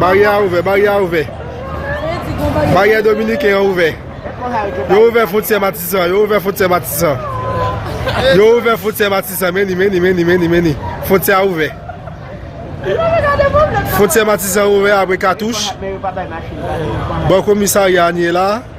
Baryè a ouvè, baryè a ouvè. Baryè dominiken an ouvè. Yo ouvè fwontyè matisan, yo ouvè fwontyè matisan. Yo ouvè fwontyè matisan, meni, meni, meni, meni, meni. Fwontyè a ouvè. Fwontyè matisan ouvè apre katouch. Bò komisarya an ye la.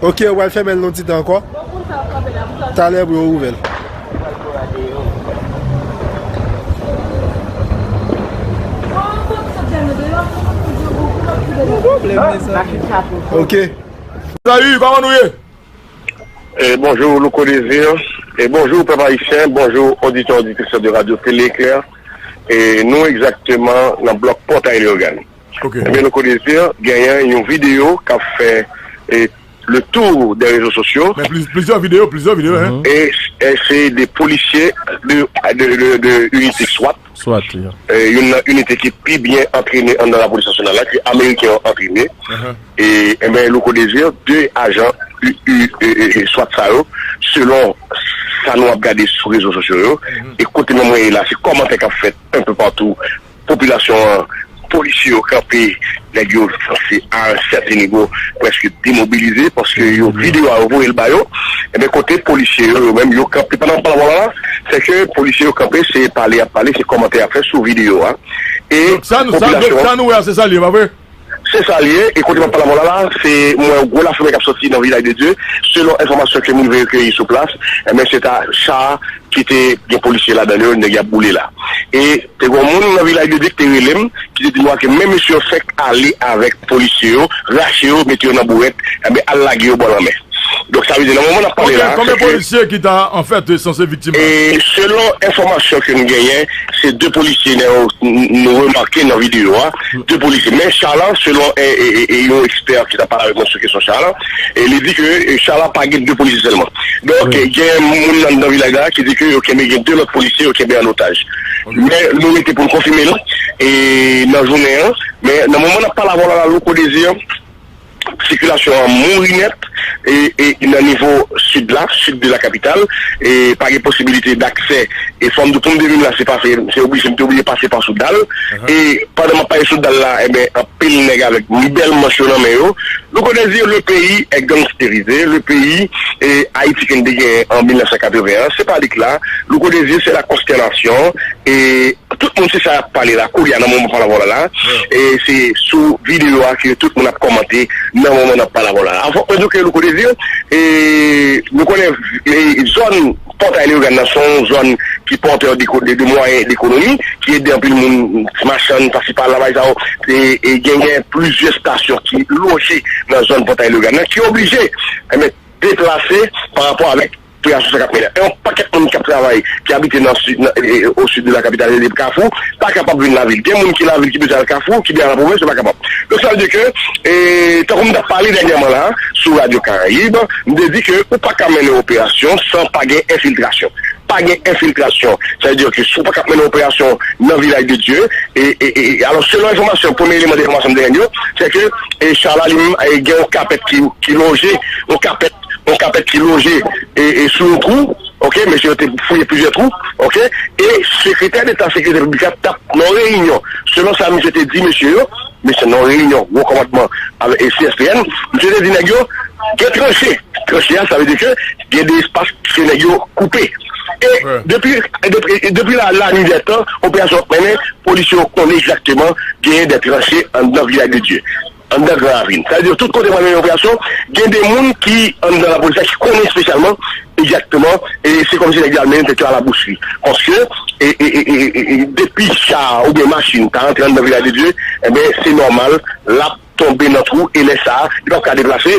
Ok ou pral fèmen l yon ti tan ankò Talè pou yo ouvè l. Ok. Salut, comment nous est? Et bonjour, Louko Désir. Et bonjour, peuple haïtien. Bonjour, auditeurs, auditrices de Radio Télé Éclair. Et nous, exactement, dans le bloc Portail Léogane. Ebyen nou konnen se genyen yon video kap fè le tour de rezo sosyo. Men plizyè video, plizyè video hein. E se de polisye de inite swat. Swat wi. Youn nan inite ki pi byen antrene anndan la polis nasyonal la ke ameriken yo antrene. Ebyen Louko Desir 2 ajan swat sa yo selon sa nou ap gade sou rezo sosyo yo e kote mwen ye la se komantè kap fèt un peu partout. Popilasyon an, polisye yo kanpe nèg yo se a un certain niveau preske demobilize paske yo video a yo voye l ba yo ebyen kote polisye yo yo menm yo kanpe pandan map pale avèw la se ke polisye yo kanpe se pale yap pale se kòmantè yap fè sou video a e popilasyon an. Donk sa nou wè a se sa l ye pa vre? Se sa l ye, e kote m ap pale avè w la la, se m wè yon gwo lafimen k ap sòti nan Vilaj de Dye. Selon enfòmasyon ke m rive rekeyi sou plas, enben se ta cha ki te gen polisye ladan l yo, nèg y ap boule la. E te gen yon moun nan Vilaj de Dye ki te rele m, ki te di mwen ke men mesye yo fèk ale avèk polisye yo, rache yo, mete yo nan bourèt, enben al lage yo bò lanmè. Donk sa vle di nan moman n ap pale la, se ke. Konbyen polisye ki ta anfèt sanse viktim la? Selon enfòmasyon ke m genyen, se 2 polisye nou remake nan videyo a. 2 polisye. Men cha la, selon yon ekspè ki ta pale avèk mwen sou kesyon cha la, li di ke cha la pa gen 2 polisye sèlman. Donk gen moun anndan vilaj la ki di ke yo kenbe gen 2 lòt polisye yo kenbe an otaj. Men nou rete pou nou konfime l nan jounen an. Men nan moman n ap pale avè w la, Louko Desir, Sikilasyon an mouri nèt nan nivo sid la, sid de la kapital. Pa gen posibilite daksè. E fò m di w, pou m te vin la, se pase, m te oblije, m te oblije pase pa sou dal. E pandan m ap pase sou dal la, enben, anpil nèg avèk bèl manch yo nan men yo. Nou konnen di le peyi è gangsterize, le peyi Ayiti kin te genyen an 1981 an, se pa li k la. Louko Dezir, se la konstènasyon. E. Tout moun se sa yap pale la koulya nan moman palavola la e se sou video a ke tout moun ap kòmante nan moman nap palavola la. Fòk mwen di w ke Louko Désir e nou konnen zòn Pòtay Leyogàn nan son zòn ki pòtè de mwayen dekonomi ki ede anpil moun machann pasi pala bay sa yo e genyen plizyè stasyon ki loje nan zòn Pòtay Leyogàn nan ki oblije deplase parapò avèk pou y al chèche kap milè. Yon pakèt moun kap travay ki abite nan si nan e o sid de la kapital rele p kafou pa kapab vin lavil. Gen moun ki lavil ki bezwen al kafou ki bezwen al nan pwovens yo pa kapab. Donk sa vle di ke e tankou m tap pale dènyèman la a sou radyo karayib m te di ke ou pa ka mennen operasyon san pa gen enfiltrasyon. Pa gen enfiltrasyon sa vle di ke si w pa kap mennen operasyon nan vilaj de dye e e e alò selon enfòmasyon premye eleman de enfòmasyon m te jwenn yo se ke e char la li menm e gen yon kapèt ki ki lonje yon kapèt yon kapèt ki loje sou yon kou, ok, mesye yo te fouye plizyè twou, ok, e sekretè deta sekirite piblik la tap nan reyinyon, selon sa misye te di mesye yo, misye nan yon reyinyon wo komandman CSPN, misye te di nèg yo gen tranche, tranche a sa vle di ke gen de espas ke nèg yo koupe, e depi depi la la nuit dè tan operasyon ap mennen, polisye yo konnen egzakteman genyen de tranche anndan vilaj de Dye. Anndan Gran Ravin. Sa vle di tout kote mwen mennen operasyon, gen de moun ki anndan lapolis la ki konnen espesyalman egzakteman e se kòmsi nèg yo al mennen tèt yo a labous wi. Paske depi cha a oubyen machin ta rantre anndan Vilaj de Dye, enben se nòmal l ap tonbe nan twou e lè sa a li p ap ka deplase.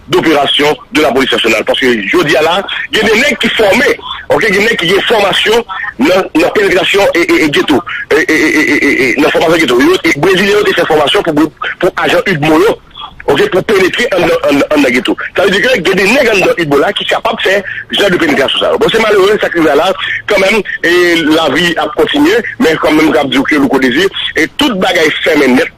doperasyon de la polis nasyonal paske jodi a la gen de nèg ki fòme ok gen nèg ki gen fòmasyon nan penetrasyon e geto e nan fòmasyon geto brezilyen yo te fè fòmasyon pou ajan udmo yo ok pou penetre andan geto sa vle di ke gen de nèg andan udmo la ki kapab fè jan de penetrasyon sa yo bon se malere sa k rive a la kanmenm lavi ap kontinye men kanmenm m ap di w ke louko dezi tout bagay fèmen nèt.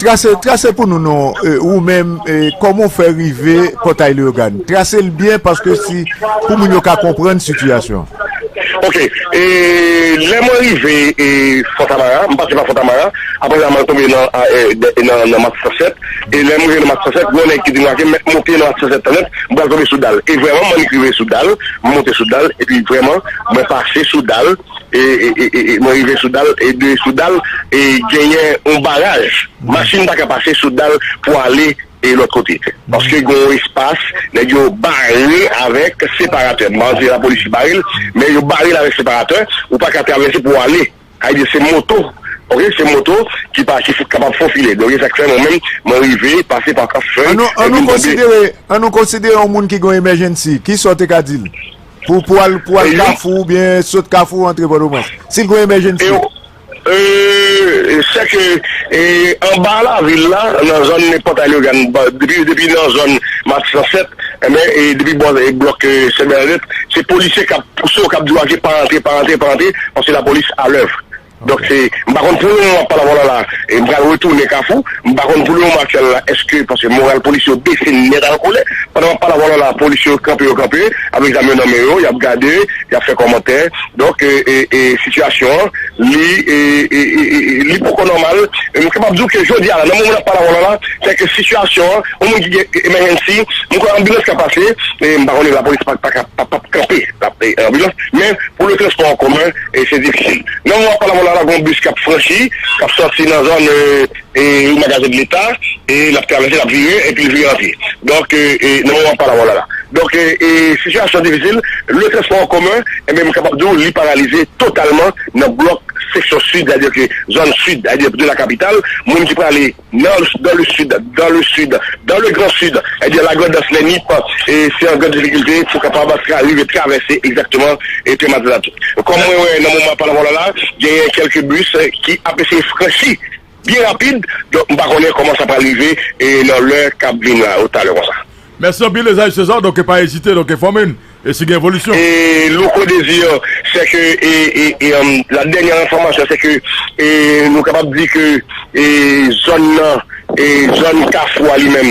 Trase pou nou non, ou menm, kòman ou fè rive pòtay Leyogàn? Trase l byen paske si, pou moun yo ka konprann sitiyasyon an. Ok, lè mwen rive Fontamara, m pase pa Fontamara, apre sa mwen tonbe nan Mat 107, e lè m rive nan Mat 107, gen yon nèg ki di m lage, mèt monte nan Mat 107 tan nèt, m pral tonbe sou dal. E vrèman, m annik rive sou dal, m monte sou dal, epi vrèman, mwen pase sou dal. Mwen rive sou dal e de sou dal genyen yon baraj machin paka pase sou dal pou ale e lòt kote paske gen yon espas nèg yo bare avèk separatè m pa konnen si se lapolis ki bare l men yo bare l avèk separatè ou paka travèse pou ale sa vle di se moto ok se moto ki pa ki kapab fofile donk se sa k fè mwen menm mwen rive pase pa kafèy an nou konsidere yon moun ki gen yon emèjènsi kisa w te ka di l. Pou pou al pou al kafou ou byen sot kafou antre pòtoprens. Si gwen emèjennsi. Eee se ke anba lavil la nan zòn nen pòt aleogan depi depi nan zòn matis lan fèt enben e depi bò blòk sèbènadèt se polisye kap pouse ou kap di ou ake pa antre pa antre pa antre paske lapolis alèv Donk se, m pa konn pou le moman wap pale avè w la la, m pral retounen kafou, m pa konn pou le moman aktyèl la eske, paske moral polisye yo bese nèt al kole, pandan map pale avè w la la polisye yo kanpe yo kanpe avèk zam yo nan men yo, yap gade, yap fè kòmantè, donk e sitiyasyon an li e li poko nòmal, m kapab di w ke jodi a la nan moman nap pale avè w la la, se ke sitiyasyon an, yon moun ki gen emèjènsi, m kwè anbilans ka pase, m pa konnen lapolis paka pap kanpe anbilans, men pou le transpò an komen. e se difisil. Nan moman pa la vwa la la gon bis kap franchi, kap sòti nan zòn e yon magazen de leta e lap travèse lap vire epi vire an pye. Donk e nan moman pa la vwa la la. Donk e e sitiyasyon an difisil, le transpò an komen enben m kapab di w li paralize totalman nan blòk seksyon sid sa vle dire ke zòn sid sa vle dire de la kapital moun ki prale Nan, dans le sud, dans le sud, dans le grand sud, ebyen la Grandans lè Nip se an gran difikilte pou kapab rive travèse egzakteman Tè Matinat. Kòm mwen wè nan moman pale vwala la genyen kèlke bis ki ap eseye franchi byen rapid donk m pa konnen kòman sa pral rive nan lè k ap vin la ou talè konsa. Mèsi anpil Esaïe Cesar donk pa ezite donk enfòme n e si gen evolisyon. Louko Desir sè ke la dènyè enfòmasyon sè ke nou kapab di ke zòn nan zòn kafou a li menm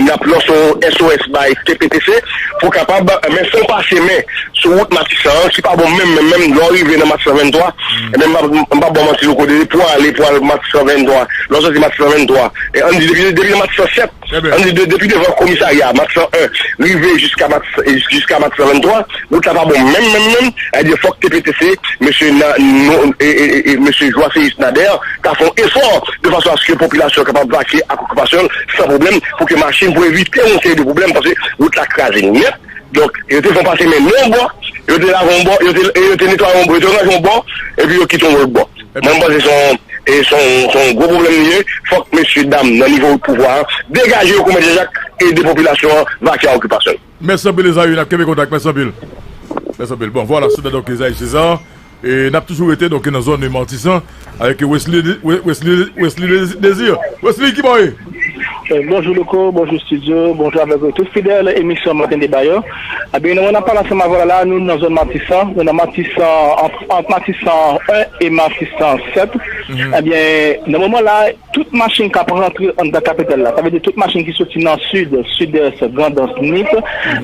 n ap lanse yon SOS bay TPTC pou kapab men fon pase men sou wout matisan an ki pa bon menm menm menm lè w rive nan matisan 23 men m pap ba w manti Louko pou ale pou al matisan 23 lè w sòti matisan 23 an n di depi nan matisan 7 An li de depi devan komisarya mak 101 rive jiska mak jiska mak 123 wout la pa bon menm menm menm ebyen fòk TPTC mesye na no e mesye Joiséus Nader ta fè yon efò de fason aske popilasyon kapab vakye ak okipasyon l san pwoblèm pou ke machin pou evite yon seri de pwoblèm paske wout la kraze nèt donk yo te fè yon pase men yon bò yo te lave yon bò yo te e yo te netwaye yon bò yo te raje yon bò epi yo kite yon lòt bò. Ebyen m panse se yon gwo pwoblèm li ye, fòk mesye dam nan nivo pouvwa an degaje yo kou mèt Jan Jak e ede popilasyon an vake a okipasyon l. Mèsi anpil Ezayi nap kenbe kontak mèsi anpil mèsi anpil bon vwala se te donk Ezayi Cesar e nap toujou rete donk nan zòn Martissant avèk Wesley Wesley Wesley Desir Wesley kibò w ye? Bonjou Louko, bonjou Studio, bonjou avèk tout fidèl emisyon Maten Deba yo. Ebyen nou menm nan Palas Mavola la, nou nan zòn Matisan, nou nan Matisan, ant Matisan 1 e Matisan 7. Ebyen nan moman la, tout machin k ap rantre anndan kapital la, sa vle di tout machin ki soti nan Sid, Sidès, Grandans, Nip,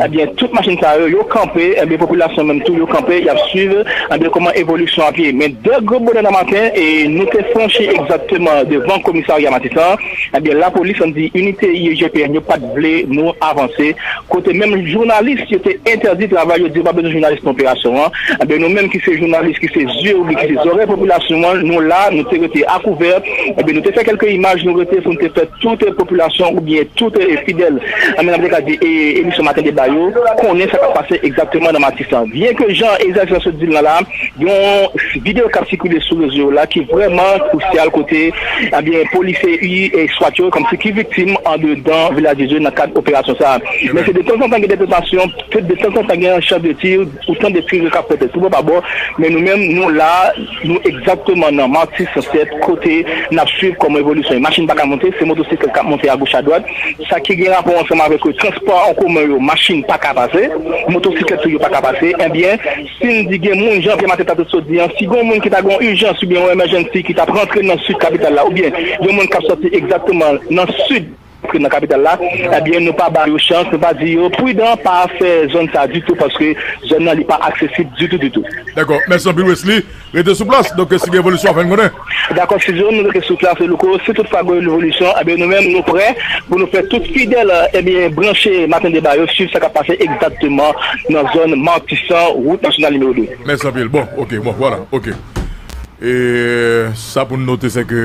Ebyen tout machin sa yo, yo kanpe, ebyen popilasyon menm tou yo kanpe yap swiv ebyen kòman evolisyon ap ye. Men dè gwo bonè nan maten e nou te franchi egzakteman devan komisarya Matisan an, ebyen lapolis an di inite IEGPN yo pat vle nou avanse, kote menm jounalis yo te entèdi travay yo di yo pa bezwen jounalis nan operasyon an, ebyen nou menm ki se jounalis ki se zye oubyen ki se zòrèy popilasyon an nou la nou te rete akouvè, ebyen nou te fè kèlke imaj nou rete pou nou te fè tout popilasyon oubyen tout fidèl An menm jan m te ka di emisyon maten deba yo, konnen sa k ap pase egzakteman nan Matisan. Byen ke jan Ezra Gérard sot di l nan la, gen yon videyo k ap sikile sou rezo yo la ki vrèman kousyal kote ebyen polisye ui swat yo kòmsi ki viktim andedan Vilaj de Dye nan kad operasyon sa a. Men se detanzantan gen detonasyon, detanzantan gen yon chant de tir, ou tande tir yo k ap fèt tout bò pa bò, men nou menm nou la. Nou egzakteman nan Marty Sunset kote n ap swiv kòman evolisyon machin pa ka monte, se motosiklèt k ap monte agoch adwat. Sa ki gen rapò ansanm avèk transpò an komen yo machin pa ka pase, motosiklèt tou yo pa ka pase. Enbyen, si n di gen moun, jan Pè Mathé ta te sot di an, si gen yon moun ki ta gen yon ijans oubyen yon emèjènsi ki t ap rantre nan sid kapital la oubyen gen moun k ap sòti egzakteman nan sid, Antre nan kapital la, ebyen nou pa ba yo chans, nou pa di yo pridan pa fè zòn sa ditou paske zòn nan li pa aksesib ditou ditou. Dakò, mèsi anpil Wesly, rete sou plas, donk si gen evolisyon wap fè n konnen. Dakò Studio, nou rete sou plas Louko, si tout fwa gen evolisyon ebyen nou menm nou prè pou nou fè tout fidèl ebyen branche Maten Deba yo swiv sa kap pase egzakteman nan zòn Matisan, wout nasyonal nimewo 2. Mèsi anpil, bon ok, bon vwala ok e sa pou n note se ke.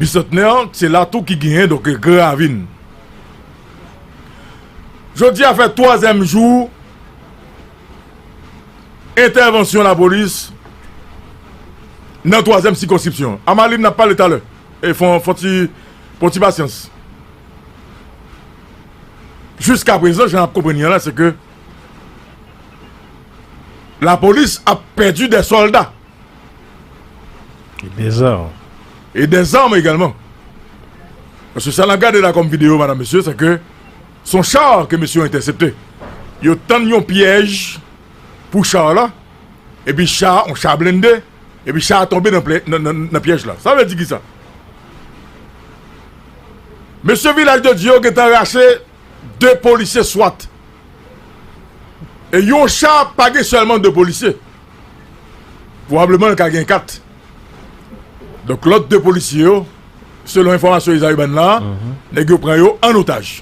Bisantnè an, se la tou ki genyen donk Gran Ravin. Jodi a fè twazyèm jou entèvansyon lapolis nan twazyèm sikonskripsyon an. A Malin, n ap pale talè. E fon fon ti fon ti pasyans. Jiskaprezan, jan n ap konprann li la, se ke lapolis ap pèdi de sòlda. E de zam. E de zam egalman. Paske sa nap gade la kom video madam mesye se ke son char ke mesye yo entèsepte. Yo tann yon pyèj pou char la e pi char, yon char blende e pi char tonbe nan pyèj la. Sa vle di ki sa? Mesye vilaj de Dye yo gentan rache 2 polisye swat. E yon cha pa gen sèlman 2 polisye. Pwobableman l ka gen 4. Donk lòt 2 polisye yo, selon enfòmasyon Ezayi ban la, nèg yo pran yo an otaj.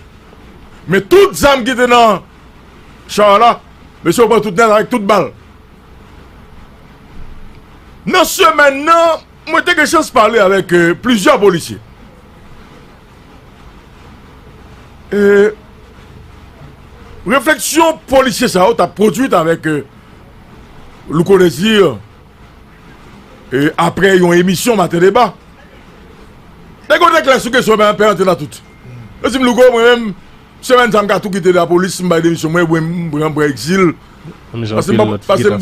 Men tout zam ki te nan cha la, mesye yo pran tout nèt avèk tout bal. Nan semèn nan, mwen te gen chans pale avèk plizyè polisye. E refleksyon polisye sa yo ta pwodwit avèk euh, Louko Desir e apre yon emisyon maten deba. Nèg yo te klè sou kesyon mwen pè antena tout. Yo di m Louko mwen menm semèn sa m ka tou kite lapolis m bay demisyon mwen ebyen m pran pran egzil pase m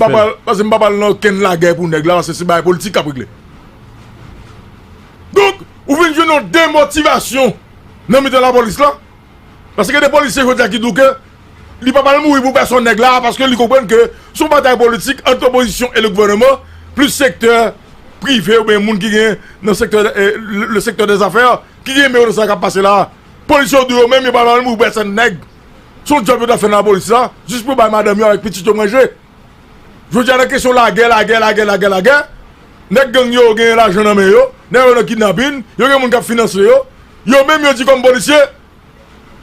pa pral nan okenn lagè pou nèg la pase se bagay politik k ap regle. Donk. Ou vin jwenn yon demotivasyon nan mitan lapolis la. Paske gen de polisye jodi a ki di w ke li pa pral mouri pou pèsonn nèg la a paske li konprann ke se yon batay politik ant opozisyon e le gouvèneman plis sektè prive oubyen moun ki gen nan sektè le sektè dè zafè ki gen men yo nan sa k ap pase la a. Polisye yo di w yo menm yo pa pral mouri pou pèsonn nèg. Se yon djòb yo ta fè nan lapolis la jis pou bay madanm yo avèk pitit yo manje. Jodi a nan kesyon lagè, lagè, lagè, lagè, lagè, nèg gang yo gen lajan nan men yo, nèg yo nan kidnapin, yo gen moun k ap finanse yo, yo menm yo di kòm polisye,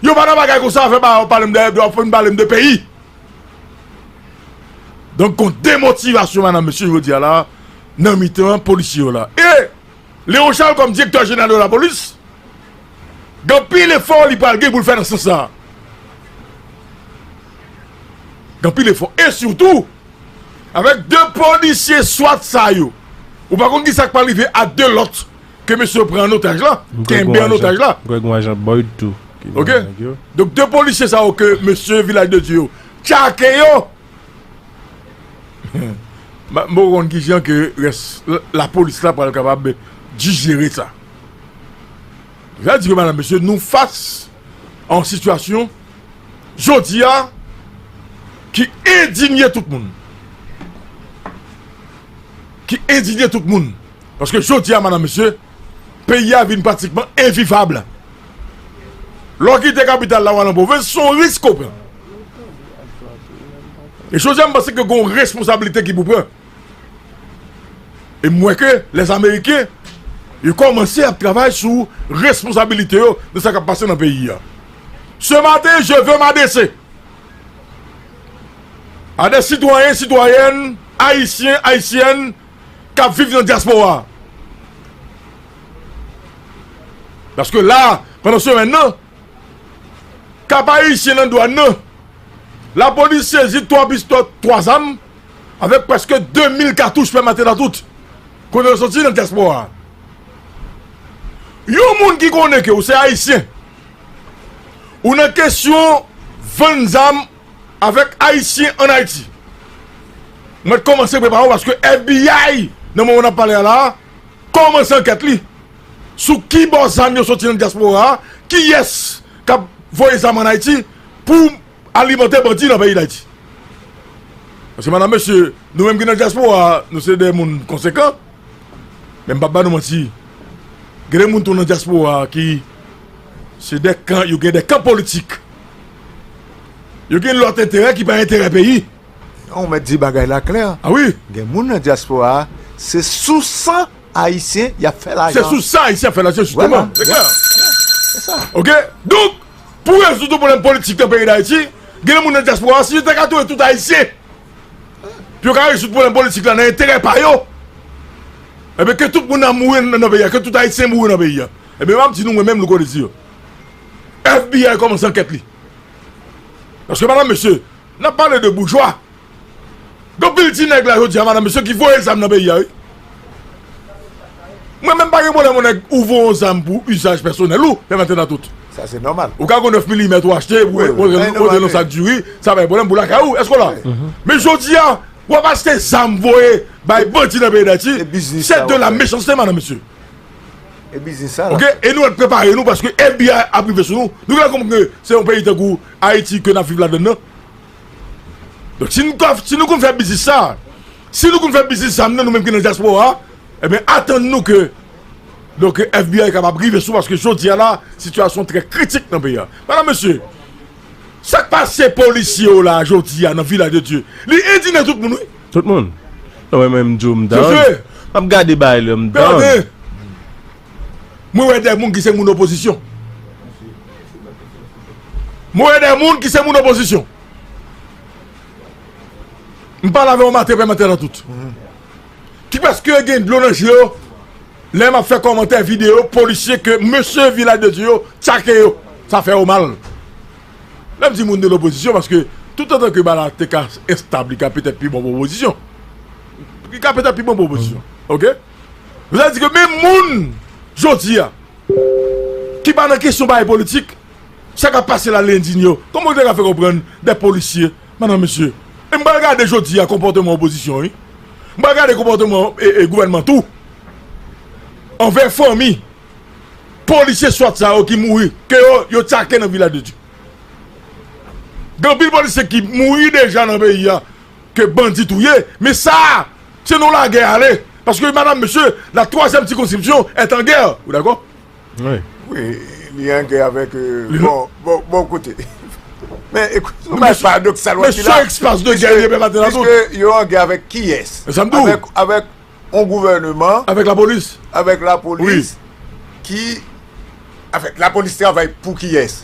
yo pa nan bagay konsa afè pa yo pale m de, yo ap fin pale m de peyi. Donk gon demotivasyon madam mesye jodi a la nan mitan polisye yo la. E Leon Charles kòm direktè jeneral de lapolis gen anpil efò li pral gen pou l fè nan sans sa a. Gen anpil efò e sitou avèk 2 polisye swat sa yo ou pa konn kisa k pral rive a 2 lòt ke mesye yo pran an otaj la, kenbe an otaj la. Ok, donk 2 polisye sa yo ke mesye Vilaj de Dye yo tyake yo m pa konn kijan ke rès lapolis la pral kapab dijere sa. Sa vle di ke madan mesye nou fas a yon sitiyasyon. jodi a ki endinye tout moun. Ki endinye tout moun. Paske jodi a manan mesye, peyi a vin pratikman envivab. Lè w kite kapital la w al an pwovens, se yon risk ou pran. E jodi a m panse ke gen yon responsablite ki pou pran. E m wè ke les Américains yo kòmanse ap travay sou responsabilite yo de sa k ap pase nan peyi a. Ce matin je veux m'adresser a des citoyens, citoyennes, Haïtiens, Haïtiennes k ap viv nan diaspora. Paske la, pandan semèn nan, Cap-Haïtien nan dwàn nan, lapolis sezi 3 pistò, 3 zam, Avèk prèske 2 mil katouch pèmate nan tout kote yo soti nan dyaspora a, yon moun ki konnen ke ou se Ayisyen, ou nan kesyon vann zam avèk Ayisyen ann Ayiti, mèt kòmanse prepare w paske FBI, nan moman n ap pale a la a, kòmanse ankèt li sou kibò zam yo soti nan dyaspora a, kiyès k ap voye zam ann Ayiti pou alimante bandi nan peyi dayiti paske madam mesye nou menm ki nan diaspora nou se de moun konsekan men m pap ba nou manti gen de moun tou nan diaspora ki se de kan yo gen de kan politik yo gen lot enterè ki pa enterè peyi non ou met di bagay la klè a wi gen moun nan diaspora se sou san ayisyen yap fè lajan se sou san ayisyen yap fè lajan jisteman se klè ok donk Pou rezoud yon pwoblèm politik nan peyi Dayiti, gen moun nan dyaspora si yo ta ka touye tout Ayisyen pou yo ka rezoud pwoblèm politik la nan enterè pa yo, enben ke tout moun nan mouri nan peyi a, ke tout Ayisyen mouri nan peyi a. Enben m ap di nou mwen menm Louko Désir, FBI kòmanse ankèt li. Paske madanm mesye, n ap pale de boujwa. Gen pil ti nèg la jodi a madanm se yo ki voye zam nan peyi a wi. Mwen menm pa gen pwoblèm yon nèg ou voye yon zam pou usaj pèsonèl ou, fèm atendan tout. Sa se nòmal. Ou ka gon 9 milimèt ou achte pou rantre nan sak diri, sa pa gen pwoblèm pou lakay ou, èske w la? Men jodi a, w ap achte zam voye bay bandi nan peyi Dayiti, se de la mechanste madan mesye. E biznis sa la. Ok, e nou mèt prepare nou paske FBI ap rive sou nou. Nou gen lè konprann ke se yon peyi tankou Ayiti ke n ap viv ladann nan. Donk si nou ka si nou konn fè biznis sa si nou konn fè biznis zam nan nou menm ki nan dyaspora eben atann nou ke donk FBI kapab rive sou paske jodi a la sitiyasyon trè kritik nan peyi a medam mesye sak pase polisye yo la jodi a nan vilaj de Dye li endinen tout moun wi. Tout moun? Non men mwen m di w m down. Map gade bagay la m down. Mwen wè de moun ki se moun opozisyon. M wè de moun ki se moun opozisyon. M pale avè yon mate pèmantè nan tout. Ki preske gen dlo nan je yo lè m ap fè kòmantè videyo polisye ke mesye Vilaj de Dye yo tchake yo. Sa fè yo mal. Lè m di moun de lopozisyon paske tout antan ke bala te ka estab li ka petèt pi bon pou opozisyon. Li ka petèt pi bon pou opozisyon. Ok? Sa vle di ke menm moun jodi a. Ki pa nan kesyon bagay politik. Sa kap pase la l'indigne yo. Kòman ou te ka fè konprann des policiers madame mesye. E m pral gade jodi a konpòteman opozisyon wi. M pral gade konpòteman gouvènman tou. Anvè fanmi polisye swat sa yo ki mouri ke yo yo take nan vilaj de Dye. Gen anpil polisye ki mouri deja nan peyi a ke bandi touye men sa a. Se nou lagè ale paske madam mesye la twazyèm sikonskripsyon est en guerre ou dakò? Wi. Wi li an gè avèk bon bon kote men nou bay paradoksal wè sila piske yo an gè avèk kiyès? Avèk yon gouvèneman avèk lapolis avèk lapolis ki avèk lapolis travay pou kiyès?